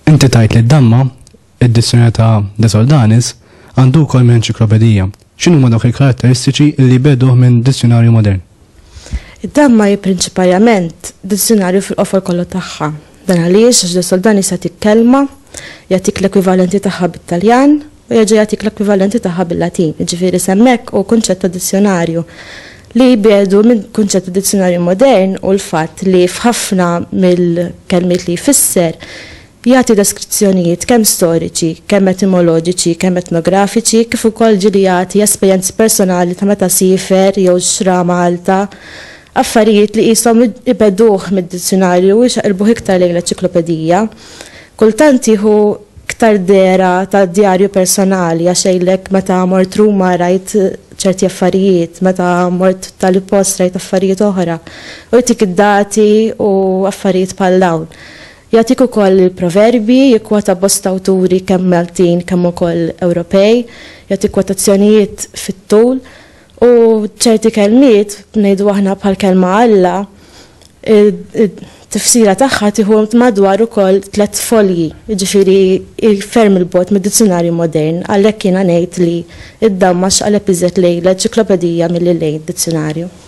Inti tajt li d-damma, id-dissjoni ta' De Soldanis, għandu kol minn enċiklopedija. X'inhuma dawk il-karatteristiċi li jbegħduh minn dizzjunarju modern? Id-damma hi prinċipalament dizzjunarju fil-qofol kollu tagħha. Dan għaliex Ġdid Soldan jista' jagħtik kelma, jagħtik l-ekwivalenti tagħha bit-Taljan u jerġa' jagħtik l-ekwivalenti tagħha bil-Latin, jiġifieri s'hemmhekk hu kunċett ta' dizzjunarju. Li jbiegħdu minn kunċett ta' dizzjunarju modern hu l-fatt li f'ħafna mill-kelmiet li jfisser, Jagħti deskrizzjonijiet kemm storiċi, kemm etimoloġiċi, kemm etnografiċi, kif ukoll ġieli jagħti esperjenzi personali ta' meta siefer jew xtra Malta, affarijiet li qishom ibegħduh mid-dizzjunarju u jxaqilbuh iktar lejn l-eċiklopedija. Kultant jieħu iktar dehra ta' djarju personali għax jgħidlek meta mort Ruma rajt ċerti affarijiet, meta mort tali post rajt affarijiet oħra, u jtik id-dati u affarijiet bħal dawn. Jagħtik ukoll il-proverbji, jikkwota bosta awturi kemm Maltin kemm ukoll Ewropej, jagħti kwotazzjonijiet fit-tul u ċerti kelmiet, ngħidu aħna bħall-kelma Alla, it-tifsira tagħha tieħu madwar ukoll tliet folji, jiġifieri hi ferm 'il bogħod mid-dizzjunarju modern, għalhekk jiena ngħid li id-damma x'qaleb iżjed lejn l-enċiklopedija milli lejn dizzjunarju.